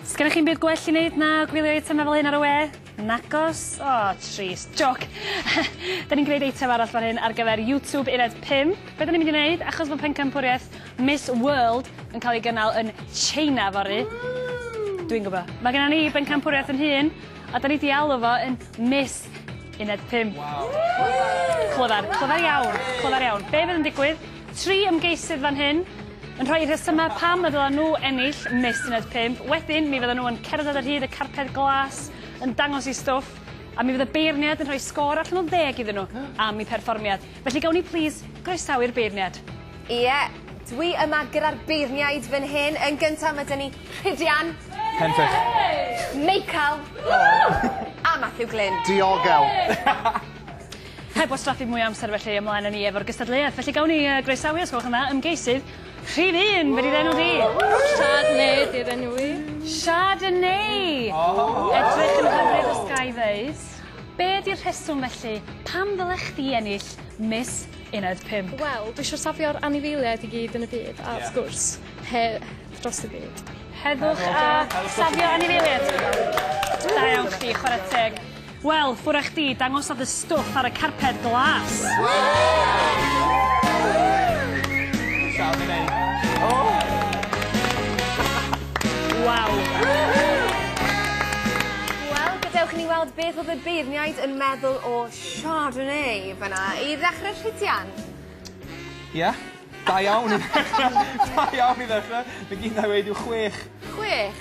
Sgennych chi'n byd gwell i wneud na gwylio eitemau fel hyn ar y we? Nagos? O, oh, trist. Joc. da ni'n gwneud eitem arall fan hyn ar gyfer YouTube uned 5. Be da ni'n mynd i wneud? Achos bod pencampwriaeth Miss World yn cael ei gynnal yn China fory. Dwi'n gwybod. Mae gennym ni bencampwriaeth yn hun, a da ni di alw fo yn Miss uned 5. Wow. Clyfar, clyfar iawn, clyfar iawn. Be fydd yn digwydd? Tri ymgeisydd fan hyn yn rhoi rhesymau pam y ddylen nhw ennill Miss Uned 5. Wedyn, mi fyddan nhw yn cerdded ar hyd y carped glas, yn dangos eu stwff, a mi fydd y beirniaid yn rhoi sgôr allan o ddeg iddyn nhw am eu perfformiad. Felly gawn ni plîs groesawu'r beirniaid. Ie, dwi yma gyda'r beirniaid fan hyn. Yn gyntaf, mae 'da ni Rhidian. Pentwr. Meical. A Mathew Glyn. Diogel! Heb wastraffu mwy o amser felly, ymlaen â ni efo'r gystadleuaeth. Felly gawn ni uh, groesawu, os gwelwch yn dda, ymgeisydd rhif un, be di'r enw di? Chardonnay di'r enw i. Chardonnay! Oh. Edrych yn hyfryd os ga i ddeud. Be di'r rheswm felly, pam ddylech chdi ennill Miss Uned 5? Wel, dwi eisiau safio'r anifeiliaid i gyd yn y byd, a wrth gwrs, he dros y byd. Heddwch a safio anifeiliaid. Da iawn chdi, chwarae teg. Wel, ffwrah chdi, dangosa dy stwff ar y carped glas! Waw! Wel, gadewch i ni weld beth oedd y beirniaid yn meddwl o Chardonnay fan'na. I ddechrau, Rhydian? Ie, da iawn i ddechre, da iawn i ddechre. Be' gindai weud yw chwech. Chwech?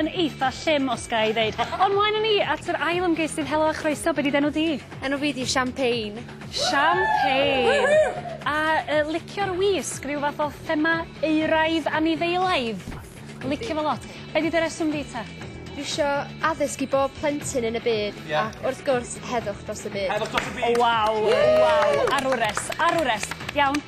yn eitha llym os ga i ddeud. Ond mlaen â ni at yr ail ymgeisydd. Helo a chroeso, be' 'di d'enw di? Enw fi 'di Champagne. Champagne! A yy licio'r wisg, rhyw fath o thema euraidd anifeilaidd? Licio fo lot. Be' 'di dy reswm di ta? Dwi isio addysg i bob plentyn yn y byd. Ie. Ac wrth gwrs heddwch dros y byd. Heddwch dros y byd! O waw! Waw! Ar y wres, ar y wres. Iawn.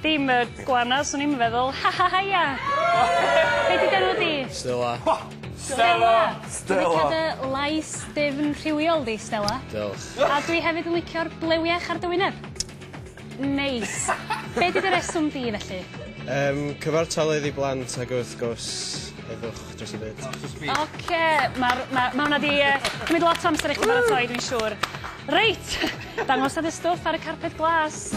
Dim y gwana swn i'm yn feddwl. Ha ha haia! Be' 'di dy enw di? Stela. Ho! Stela! Stela! Dwi'n licio dy lais difn rhywiol di, Stela. Diolch. A dwi hefyd yn licio'r blew iach ar dy wyneb. Neis. Be' 'di dy reswm di felly? Yym cyfartaledd i blant ag wrth gwrs heddwch dros y byd. Heddwch dros y byd. Oce ma'r ma' ma' wnna 'di yy cymyd lot o amser i chi baratoi dwi'n siŵr. Reit! Dangosodd y stwff ar y carped glas.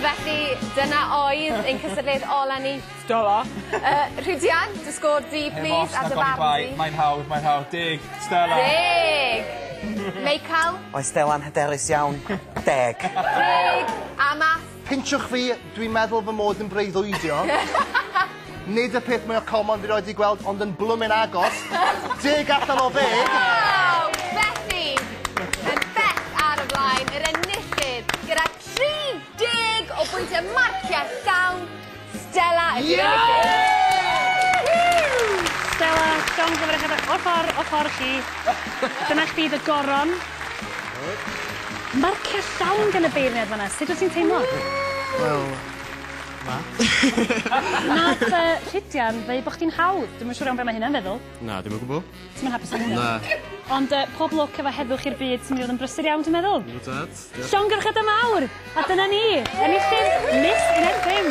Felly, dyna oedd ein cystadleuaeth ola ni. Stella. Yy Rhidian, dy sgôr di plîs a dy farn di. Mae'n hawdd, mae'n hawdd. Deg. Stella. Deg! Meical? Oedd Stella'n hyderus iawn. Deg. Deg! A Math? Pinsiwch fi, dwi'n meddwl fy mod yn breuddwydio. Nid y peth mwya common fi 'roed 'di gweld ond yn blwmin agos. Deg allan o ddeg! Waw! Betsi yn bell ar y flaen, yr enillydd gyda 30 o bwyntie marciau llawn. Stella! Stella, John Glyfr a Heather, ochr, ochr i chi. Dyna chdi dy goron. Marcia llawn gan y beirniad fanna, sut wyt ti'n teimlo? Wel, na. Nath yy Rhydian ddeu bo' chdi'n hawdd, dwi'm yn siŵr iawn be' ma' hynna'n feddwl. Na, dim o gwbwl. Ti'm yn hapus efo hwnna? Na. Ond yy pob lwc efo Heddwch i'r Byd sy'n mynd i fod yn brysur iawn dwi'n meddwl. Yndw tad. Diolch. Llongyfarchiadau mawr! A dyna ni, enillydd Miss Ineddfing!